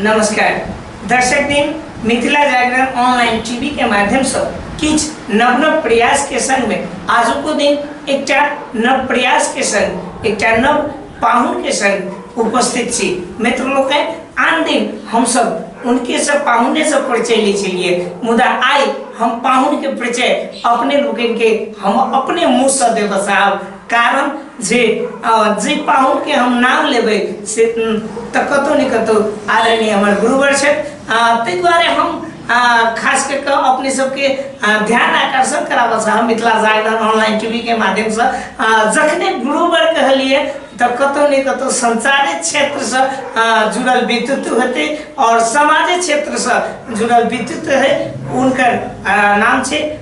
नमस्कार दर्शक दिन मिथिला जागरण ऑनलाइन टीवी के माध्यम से किछ नव नव प्रयास के संग में आजू को दिन एकटा नव प्रयास के संग एकटा नव पाहुन के संग उपस्थित छी मित्र लोग हैं आन दिन हम सब उनके सब पाहुने से परिचय ले चलिए मुदा आई हम पाहुन के परिचय अपने लोगन के हम अपने मुंह से देव साहब कारण जे अ, जे पाहुन के हम नाम लेबै से उम, तऽ कतौ ने कतौ आदरणीय हमर गुरुवर छथि आ, ताहि दुआरे हम आ, खास कऽ कऽ अपने सबके आ, ध्यान आकर्षण कराबऽ चाहब मिथिला जागरण ऑनलाइन टीवी के माध्यमसँ आ, जखने गुरुवर कहलियै तऽ कतौ ने कतौ संचारे क्षेत्रसँ आ, जुड़ल व्यक्तित्व हेतै आओर समाजे क्षेत्रसँ जुड़ल व्यक्तित्व है हुनकर आ, नाम छै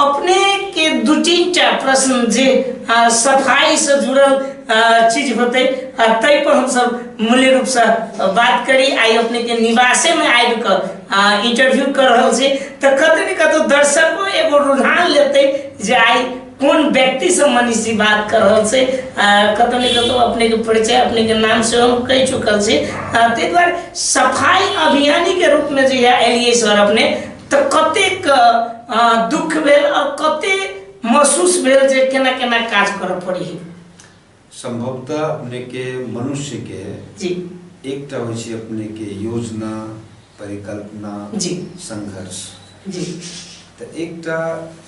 अपने के दू तीन टा प्रश्न जे आ, सफाई से जुड़ल आ, चीज होते आ, ताहि पर हम सब मूल्य रूप से बात करी आई अपने के निवासे में आबि के आ, इंटरव्यू कर रहल छी तऽ कतौ ने कतौ दर्शको एगो रुझान लेते जे आई कोन व्यक्ति से मनीष जी बात कर रहल छै आ, कतौ ने कतौ अपने के परिचय अपने के नाम से हम कहि चुकल छी आ, ताहि दुआरे सफाई अभियानी के रूप में जे यह एलिए सर अपने तऽ कतेक अ, दुख भेल आ कते महसूस भेल जे केना केना काज करऽ पड़ी संभवतः अपने के मनुष्य के जी एकटा होइ छै अपने के योजना परिकल्पना जी। संघर्ष जी तऽ एकटा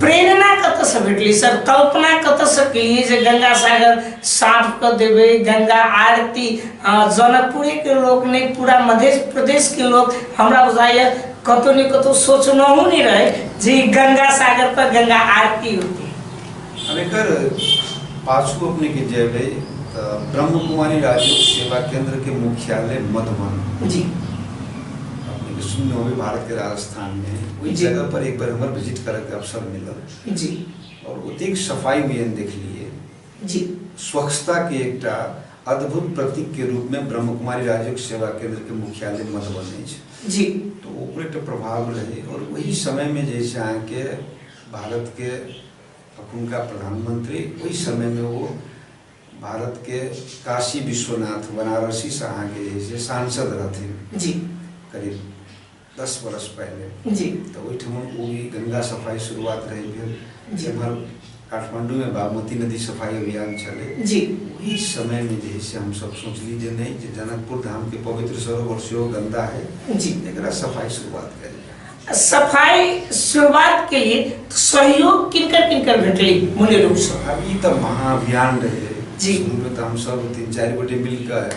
प्रेरणा कतऽसँ भेटलै सर कल्पना कतऽसँ केलियै जे गंगा सागर साफ कऽ देबै गंगा आरती अ, जनकपुरे के लोग नहि पूरा मध्य प्रदेश के लोग हमरा बुझाइए कतौ ने कतौ सोचनहु नहि रहै जे ई गंगा सागर पर गंगा आरती होतै अब एकर पाछू अपने के जेबै तऽ ब्रह्म कुमारी राजयोग सेवा केंद्र के मुख्यालय मधुबन जी अपने के सुनने होबै भारत के राजस्थान स्थान में ओहि जी। जगह पर एक बेर हमर विजिट करे के अवसर मिलल जी और ओतेक सफाई में हम देखलिए जी स्वच्छता के एकटा अद्भुत प्रतीक के रूप में ब्रह्मकुमारी राजयोग सेवा केंद्र के मुख्यालय मधुबनी अछि जी तो ओकरो एकटा प्रभाव रहे और वही समय में जे है से अहाँ के भारत के अखुनका प्रधानमंत्री ओहि समय में वो भारत के काशी विश्वनाथ बनारसी से अहाँ के जे है से सांसद रहथिन जी करीब दस बरस पहिले जी तऽ ओहिठाम ओ भी गंगा सफाई शुरुआत रहै भेल जी। एम्हर काठमांडूमे बागमती नदी सफाई अभियान छलै जी ओहि समयमे जे है से हमसब सोचली जे नहि जे जनकपुर धामके पवित्र सरोवर सेहो गंदा है जी। एकरा सफाई शुरुआत कयल जाय। सफाई शुरुआत के लिए तो सहयोग किनकर किनकर भेटली मूल रूप से आब ई तऽ महाअभियान रहै जी। शुरूमे तऽ हमसब तीन चारि गोटे मिलकर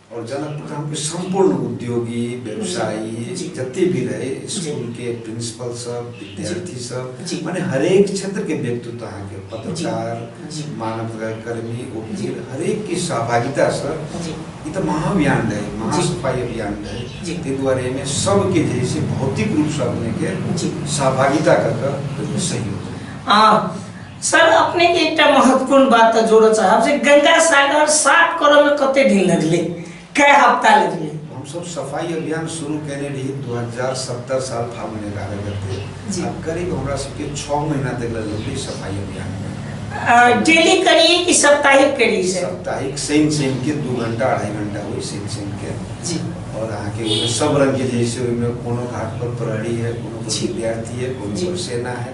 और जनकपुर का हमको संपूर्ण उद्योगी व्यवसायी जते भी रहे स्कूल के प्रिंसिपल सब विद्यार्थी सब माने हरेक क्षेत्र के व्यक्तित्व अहाँ के पत्रकार मानव कर्मी वकील हरेक के सहभागिता से ई तो महाअभियान रहे महासफाई अभियान रहे ताहि दुआरे एहिमे सबके जे से भौतिक रूप से अपने के सहभागिता कर के सहयोग आ सर अपने के एकटा महत्वपूर्ण बात तऽ जोड़ऽ चाहब जे गंगा सागर साफ करऽ में कते दिन लगले कै हफ्ता लगले हम सब सफाई अभियान शुरू केने रही 2070 साल फागुन एगारह गते जी। आ करीब हमरा सबके छः महीना तक लगल रही सफाई अभियान में अ, डेली करिए कि साप्ताहिक करिए सर साप्ताहिक शनि शनि के दू घंटा अढ़ाई घंटा हुई शनि शनि के जी और अहाँ के ओहिमे सब रंग के जैसे ओहिमे कोनो घाट पर प्रहरी है कोनो पर जी। विद्यार्थी है कोनो जी। पर सेना है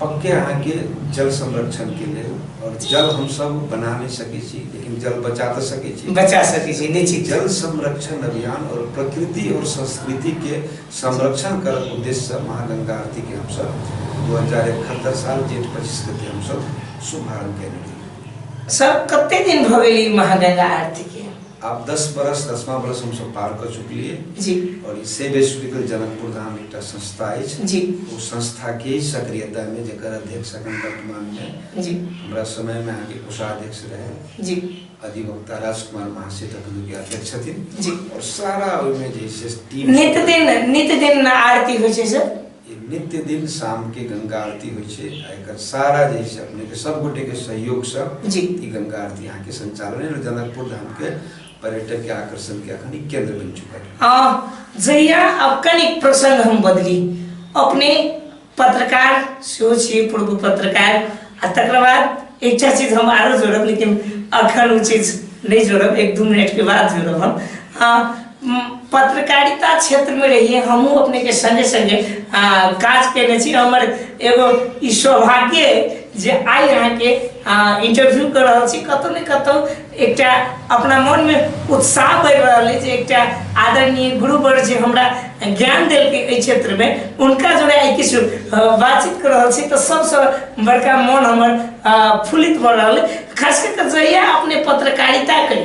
पक्के अहाँ के जल संरक्षण के लिए और जल हम सब बना नहीं सके छी लेकिन जल बचा तो सके छी बचा सके छी निश्चित जल संरक्षण अभियान और प्रकृति और संस्कृति के संरक्षण कर उद्देश्य से महागंगा आरती के हम सब दू हजार इकहत्तर साल जेठ पच्चीस के हम सब शुभारंभ करेंगे सर कते दिन भऽ गेल ई महागंगा आरती के आप दस बरस दसमा बरस हम सब पार कर चुकलिए जी और ई सेव हॉस्पिटल जनकपुर धाम एकटा संस्था अछि जी ओ संस्था के सक्रियता में जेकर अध्यक्ष अखन वर्तमान में जी हमरा समय में अहाँके कोषाध्यक्ष रहे जी अधिवक्ता राजकुमार महाशय तखन के अध्यक्ष छथिन जी और सारा ओहिमे जे है से टीम नित दिन नित दिन आरती होइ छै सर ई नित्य दिन शाम के गंगा आरती होइ छै आ एकर सारा जे छै अपने के सब गोटे के सहयोग से जी। ई गंगा आरती यहाँ के संचालन है और जनकपुर धाम के पर्यटक के आकर्षण के अखन ई केंद्र बन चुकल है आ, जहिया अब कनिक प्रसंग हम बदली अपने पत्रकार सेहो छियै पूर्व पत्रकार आ तकर बाद एकटा चीज हम आरो जोड़ब लेकिन अखन ओ चीज नहि जोड़ब एक दू मिनट के बाद जोड़ब हम आ, पत्रकारिता क्षेत्रमे रहिए हमहूँ अपनेके सङ्गे सङ्गे काज कयने छी हमर एगो ई सौभाग्य जे आइ अहाँके इंटरव्यू कर रहल छी कतहु ने कतहु एकटा अपना मनमे उत्साह बढ़ि रहल अछि एकटा आदरणीय गुरुवर जे हमरा ज्ञान देलकै एहि क्षेत्रमे हुनका जोड़े आइ किछु बातचीत कर रहल छी तऽ सबसँ बड़का मन हमर फुलित भऽ रहल खास कऽ कऽ जहिया अपने पत्रकारिता करी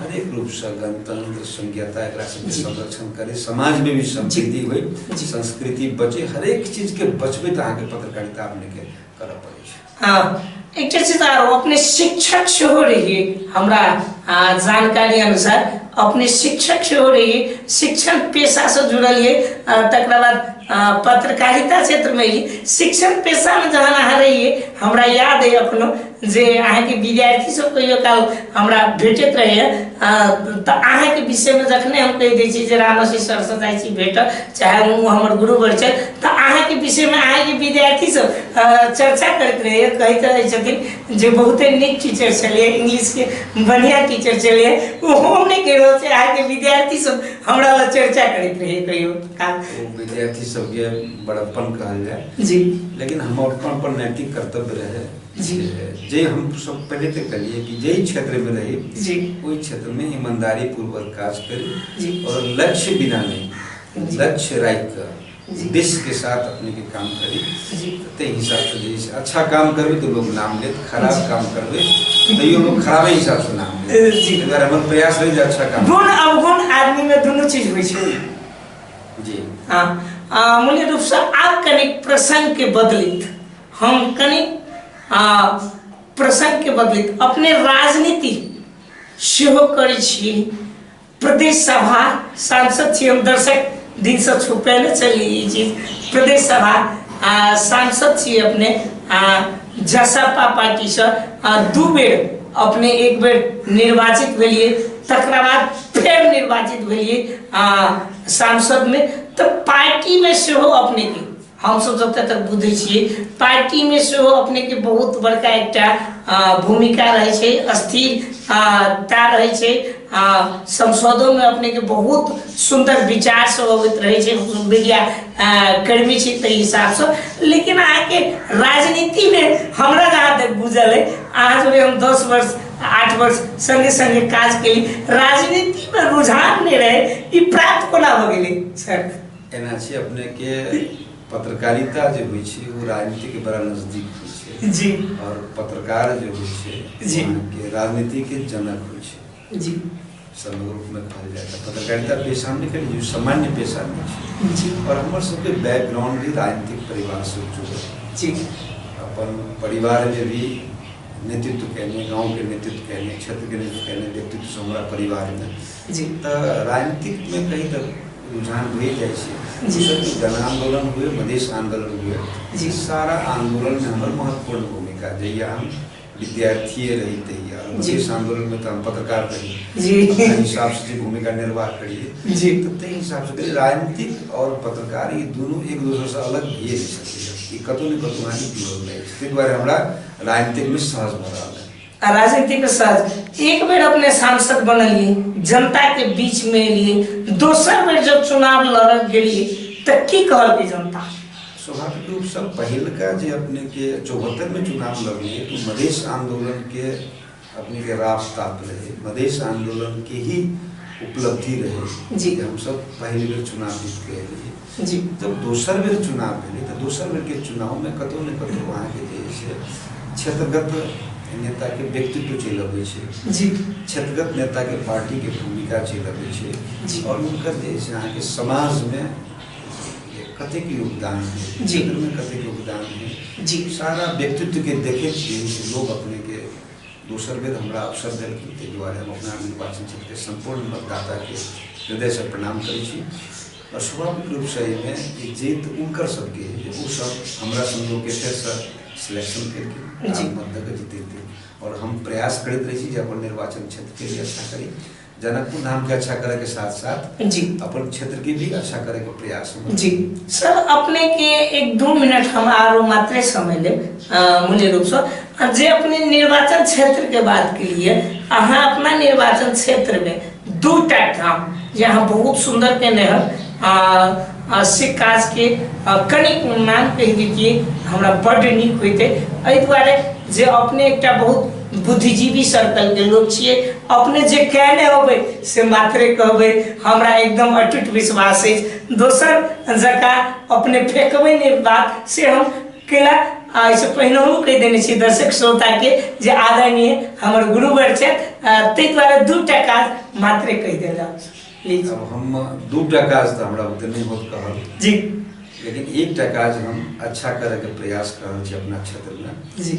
हरेक रूपसँ गणतन्त्र संज्ञता एकरा सबके संरक्षण करे समाजमे भी समृद्धि होइ संस्कृति बचे हरेक चीजके बचबैत अहाँके पत्रकारिता अपनेके करऽ पड़ै छै हाँ एक चीज आरो अपने शिक्षक सेहो रहिए हमरा जानकारी अनुसार अपने शिक्षक सेहो रहिए शिक्षण पेशा से जुड़ल ये तक बाद पत्रकारिता क्षेत्र में ही शिक्षण पेशा में जहाँ अहाँ रहिए हमरा याद है अपनो जे अहाँके विद्यार्थी सब कहियो काल हमरा भेटैत रहैए तऽ अहाँके विषयमे जखने हम कहि दै छी जे रामसी सरसँ जाइ छी भेटऽ चाहे ओ हमर गुरुवर छथि तऽ अहाँके विषयमे अहाँके विद्यार्थी सब चर्चा करैत रहैए कहैत रहै छथिन जे बहुते नीक टीचर छलियै इंग्लिशके बढ़िआँ टीचर छलियै ओ हम नहि कहि रहल छी अहाँके विद्यार्थी सब हमरा लग चर्चा करैत रहैए कहियो काल विद्यार्थी सबके बड़प्पन कहल जाए जी लेकिन हम अपन अपन नैतिक कर्तव्य रहै जी जे हम सब पहले तक करिए कि जे क्षेत्र में रही जी ओहि क्षेत्र में ईमानदारी पूर्वक काज जी। करी और लक्ष्य बिना नहीं जी। लक्ष्य राखि जी। कऽ उद्देश्य के साथ अपने के काम करी जी ते हिसाब से जे छै, अच्छा काम करबे तो लोग नाम लेत खराब जी। काम करबे तैयो लोग खराबे हिसाब से नाम ए, लेत जी। ताहि दुआरे हमर प्रयास रही जे अच्छा काम गुण अवगुण आदमी में दुनू चीज होइ छै जी हाँ आ, मूल्य रूप से आब कनिक प्रसंग के बदलित हम कनि आ, प्रसंग के बदलित अपने राजनीति सेहो करै छी प्रदेश सभा सांसद छी हम दर्शक दिन से छुपे न चली ई चीज प्रदेश सभा आ, सांसद छी अपने आ, जसपा पार्टी से आ, दू बेर अपने एक बेर निर्वाचित भेलिए तकरा बाद फेर निर्वाचित भेलिए आ, सांसद में तऽ पार्टी में सेहो अपने के हमसभ जतऽ तक बुझै छियै पार्टीमे सेहो अपनेके बहुत बड़का एकटा आ, भूमिका रहै छै स्थिरता रहै छै आ संसदोमे अपनेके बहुत सुन्दर विचार सब अबैत रहै छै हमसभ मीडिया आ, कर्मी छी ताहि हिसाबसँ लेकिन अहाँके राजनीतिमे हमरा जहाँ तक बुझल अइ अहाँ सभके हम दस वर्ष आठ वर्ष संगे संगे काज केली राजनीतिमे रुझान नहि रहै ई प्राप्त कोना भऽ गेलै सर एना छै अपने के पत्रकारिता जे होइ छै वो राजनीति के बड़ा नजदीक होइ छै जी और पत्रकार जो होइ छै जी। वहाँ के राजनीति के जनक होइ छै जी समग्र रूप में कहल जाए तऽ पत्रकारिता पेशा में कल जो सामान्य पेशा में छै जी और हमर सबके बैकग्राउंड भी राजनीतिक परिवार से जुड़ल है। जी अपन परिवार में भी नेतृत्व कैने गांव के नेतृत्व कैने क्षेत्र के नेतृत्व कैने व्यक्तित्व से हमरा परिवार में जी तऽ राजनीतिकमे कहीं तऽ रुझान भए जाइ छै जी। जैसे कि जन आंदोलन हुए मधेश आंदोलन हुए जी। ई सारा आंदोलन में हमर महत्वपूर्ण भूमिका जहिया हम विद्यार्थिये रही तहिया जी। मधेश आंदोलन में तऽ हम पत्रकार रही जी। अपना हिसाब से जे भूमिका निर्वाह करिए जी। तऽ ताहि हिसाब से कहिए, राजनीतिक और पत्रकार ई दुनू एक दोसर से अलग भइए नहि सकैए ई कतौ ने कतौ अहाँके जुड़ल रहै छै ताहि दुआरे हमरा राजनीतिक में सहज भऽ रहल आ राजनीति के साथ एक बेर अपने सांसद बनलिए जनता के बीच में एलिए दोसर बेर जब चुनाव लड़ल गेलिए तो की कहलके जनता स्वाभाविक रूप से पहिलका जे अपने के चौहत्तर में चुनाव लड़लिए तो मधेश आंदोलन के अपने के राह ताप रहे मधेश आंदोलन के ही उपलब्धि रहे जी। कि हम सब पहली बेर चुनाव जीत के एलिए जी जब दोसर बेर चुनाव भेलै तऽ दोसर बेरके चुनावमे कतहु ने कतहु अहाँके जे है से क्षेत्रगत नेताके व्यक्तित्व चलि अबै छै जी क्षेत्रगत नेताके पार्टीके भूमिका चलि अबै छै जी। आओर हुनकर जे है से अहाँके समाजमे कतेक योगदान है जी। क्षेत्रमे कतेक योगदान है जी। सारा व्यक्तित्वके देखैत छियै से लोक अपनेके दोसर बेर हमरा अवसर देलखिन ताहि दुआरे हम अपना निर्वाचन क्षेत्रके सम्पूर्ण मतदाताके हृदयसँ प्रणाम करै छी आ स्वाभाविक रूप सँ एहि मे जे जीत उनकर सब के जे ओ सब हमरा सन लोक के फेर सँ सिलेक्शन केलखिन जी। राम मत दऽ कऽ जितेलखिन आओर हम प्रयास करैत रहै छी जे अपन निर्वाचन क्षेत्र के भी अच्छा करी जनकपुर धाम के अच्छा करय के साथ साथ जी अपन क्षेत्र के भी अच्छा करय के प्रयास हम जी सर अपने के एक दू मिनट हम आरो मात्रे समय लेब अ, मूल्य रूप से आ जे अपने निर्वाचन क्षेत्र के बात के लिए अहाँ अपना निर्वाचन क्षेत्र में दू टा काम जे अहाँ बहुत सुंदर केने हन आ आ से काज के आ, कनिक मान कहि दैतियै हमरा बड्ड नीक होइते एहि दुआरे जे अपने एकटा बहुत बुद्धिजीवी सर्कल के लोक छियै अपने जे कहने होबै से मात्रे कहबै हमरा एकदम अटूट विश्वास अछि दोसर जकाँ अपने फेकबै नहि बात से हम केलक आ एहिसँ पहिनहु कहि देने छी दर्शक श्रोताके जे आदरणीय हमर गुरुवर छथि आ ताहि दुआरे दू टा काज मात्रे कहि देल जाउ प्लीज अब हम दू टा काज तऽ हमरा बुते नहि होत कहल जी लेकिन एकटा काज हम अच्छा करैके प्रयास कऽ रहल छी अपना क्षेत्रमे जी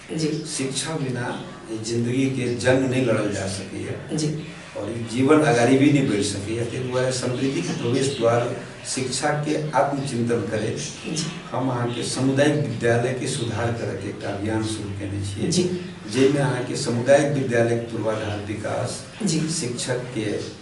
जी शिक्षा बिना जिंदगी के जंग नहीं लड़ल जा सकी है जी और ई जीवन अगाड़ी भी नहीं बढ़ सकी है ताहि दुआरे समृद्धि के प्रवेश द्वार शिक्षा के आत्मचिंतन करे जी हम अहाँके सामुदायिक विद्यालय के सुधार करे के एकटा अभियान शुरू केने छियै जी। जाहिमे अहाँके सामुदायिक विद्यालय के पूर्वाधार विकास जी। शिक्षक के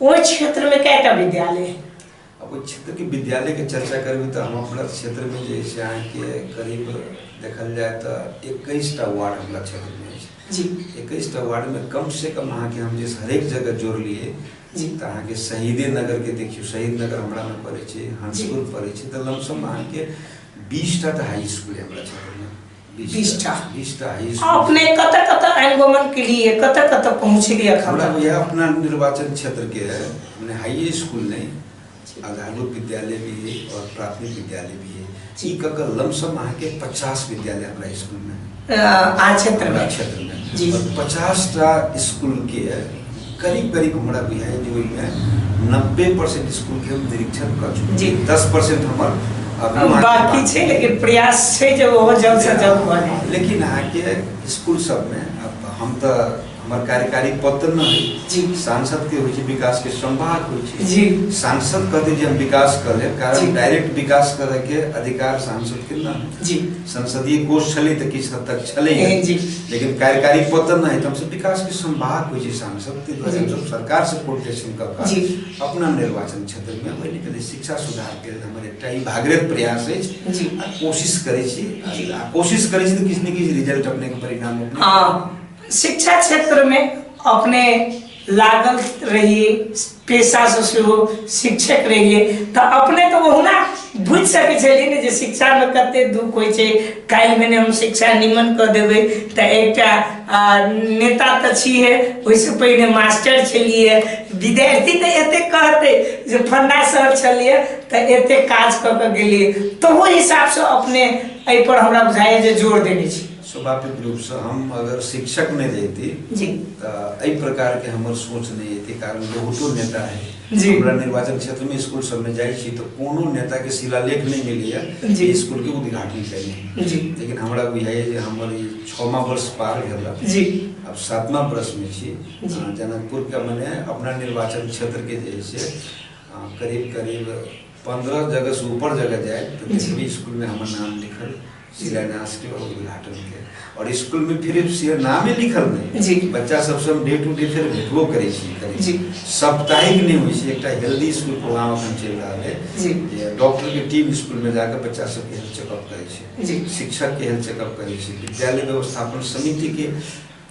ओहि क्षेत्रमे कएटा विद्यालय अब ओहि क्षेत्रके विद्यालयके चर्चा करबै तऽ हम अपना क्षेत्रमे जे छै अहाँके करीब देखल जाय तऽ एकैसटा वार्ड हमरा क्षेत्रमे छै जी एकैसटा वार्डमे कमसँ कम अहाँके हम जे हरेक जगह जोड़लियै जी तऽ अहाँके शहीदे नगरके देखियौ शहीद नगर हमरामे पड़ै छै हंसपुर पड़ै छै तऽ लमसम अहाँके बीसटा तऽ हाई स्कूल हमरा क्षेत्रमे बीसटा बीसटा ई अपने कतऽ कतऽ अनुगमन केलिए कतऽ कतऽ पहुँचलिए एखन हमरा तक बुझाइए अपना निर्वाचन क्षेत्रके मने हाइए स्कूल नहि आधारो विद्यालय भी है और प्राथमिक विद्यालय भी है ई कऽ कऽ लमसम अहाँके पचास विद्यालय हमरा स्कूलमे अ, आर क्षेत्रमे हमरा क्षेत्रमे जी। और पचासटा स्कूलके करीब करीब हमरा बुझाइए जे ओहिमे नब्बे परसेंट स्कूलके हम निरीक्षण कऽ चुकल जी। छी दस परसेंट हमर अभी वहाँ के बाकी बात- छै लेकिन प्रयास छै जे ओहो जल्द से जल्द भऽ जाए लेकिन अहाँके स्कूल सबमे अब हम तऽ हमर कार्यकारी पद तऽ नहि जी। होइ सांसद के होइ छै विकास के संवाद होइ छै जी। सांसद कहते जे हम विकास कर लेब जी। कारण डायरेक्ट विकास करे के अधिकार सांसद के नहि होइ छै। जी संसदीय कोष छलै तऽ किछु हद तक छलै लेकिन कार्यकारी पतन नहि तऽ हमसभ विकासके संवाहक होइ छै सांसदके द्वारा हमसभ सरकारसँ कोर्डिनेशन कऽ कऽ अपना निर्वाचन क्षेत्रमे पहिले पहिले शिक्षा सुधारके लेल हमर एकटा ई भागरत प्रयास अछि आ कोशिश करै छी आ कोशिश करै छी तऽ किछु ने किछु रिजल्ट अपनेके परिणाम शिक्षा क्षेत्रमे अपने लागल रहिए पेशा से सेहो शिक्षक रहिए तो अपने तो ओहुना बुझ सके छलिए ने जे शिक्षा में कते दुख होइ छै काल्हि में हम शिक्षा निमन क देबै तो एक नेता तो छिए ओहिसँ पहिने मास्टर छलिए विद्यार्थी तो एते कहते जे फंडा सर छलिए तो एते काज क के गेलिए तो ओहि हिसाब से अपने एहि पर हमरा बुझाइए जे जोर देने छी स्वाभाविक रूप से हम अगर शिक्षक में रहती जी तो एहि प्रकार के हमर सोच नहीं है कारण बहुतो नेता है जी। हमरा निर्वाचन क्षेत्र में स्कूल सब में जाइ छी तो कोनो नेता के शिलालेख नहीं मिली है जी। स्कूल के उद्घाटन करें जी लेकिन हमरा बुझाइए जे हमर ई छमा वर्ष पार भेल जी अब सातमा वर्ष में छी जी। अ, जनकपुर के मने अपना निर्वाचन क्षेत्र के जे है से अ, करीब करीब पंद्रह जगह से ऊपर जगह जाए तो जितनी स्कूल में हमार नाम लिखल शिलान्यास के और उद्घाटन के और स्कूल में फिर सिर्फ नामे लिखल नहीं जी। बच्चा सबसे हम डे टू डे फिर भेटबो करे छी करे जी। साप्ताहिक नहीं होइ छै एकटा हेल्दी स्कूल प्रोग्राम अखन चलि रहल है जी। जे डॉक्टर के टीम स्कूल में जाकर बच्चा सबके हेल्थ चेकअप करे जी। छै शिक्षक के हेल्थ चेकअप करे छै विद्यालय व्यवस्थापन समिति के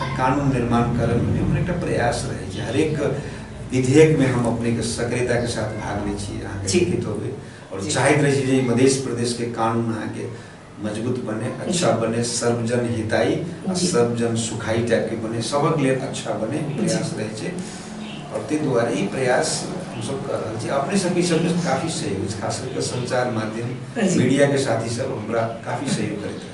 तऽ कानून निर्माण करे में भी हमर एकटा प्रयास रहे छै हरेक विधेयक में हम अपने के सक्रियता के साथ भाग ले छी अहाँ के लिखित होबे और चाहत रहे छी जे मधेश प्रदेश के कानून अहाँ के मजबूत बने अच्छा बने सर्वजन हिताई सर्वजन सुखाई टाइप के बने सबक लिए अच्छा बने प्रयास रहे छे और ते द्वारे ई प्रयास हम सब कर रहे छे अपने सब के सब काफी सहयोग खास करके संचार माध्यम मीडिया के साथी सब हमरा काफी सहयोग करते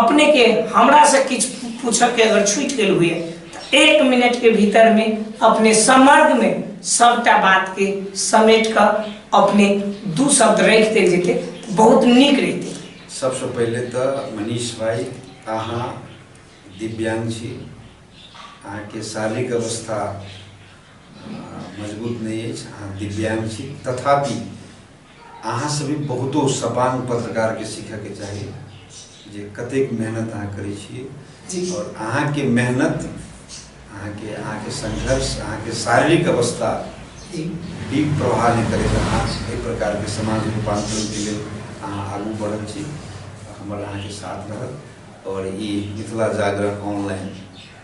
अपने के हमरा से किछ पूछे के अगर छूट गेल हुए तो एक मिनट के भीतर में अपने समर्ग में सबटा बात के समेट कर अपने दू शब्द रख दे जेते तो बहुत निक रहते सबसे पहले तो मनीष भाई अहाँ दिव्यांग छी अहाँ के शारीरिक अवस्था अ, मजबूत नहीं अछि अहाँ दिव्यांग छी तथापि अहाँ सब भी बहुतो सपांग पत्रकार के सीखय के चाही जे कतेक मेहनत अहाँ करै छी और अहाँ के मेहनत अहाँ के अहाँ के संघर्ष अहाँ के शारीरिक अवस्था भी प्रभाव नहीं करे अहाँ एहि प्रकार के समाज रूपांतरण के लिए अहाँ आगू बढ़ल छी हमर अहाँ के साथ रहत और ई मिथिला जागरण ऑनलाइन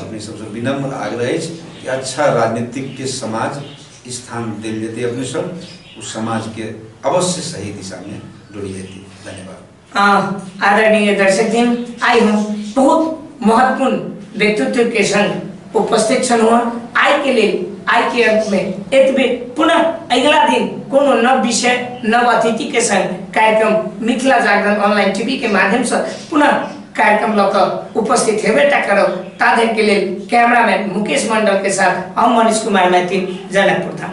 अपने सबसे विनम्र आग्रह अछि कि अच्छा राजनीतिक के समाज स्थान दिल जेतै अपने सब उस समाज के अवश्य सही दिशा में डोल जेतै धन्यवाद आ, आदरणीय दर्शक दिन आई हम बहुत महत्वपूर्ण व्यक्तित्व के संग उपस्थित छन हुआ आई के लिए आई के अंत में एतबे पुनः अगला दिन कोनो नव विषय नव अतिथि के संग कार्यक्रम मिथिला जागरण ऑनलाइन टीवी के माध्यम से पुनः कार्यक्रम लऽ कऽ उपस्थित हेबेटा करब ता धरि के लेल कैमरामैन मुकेश मंडल के साथ हम मनीष कुमार मैथिल जनकपुर धाम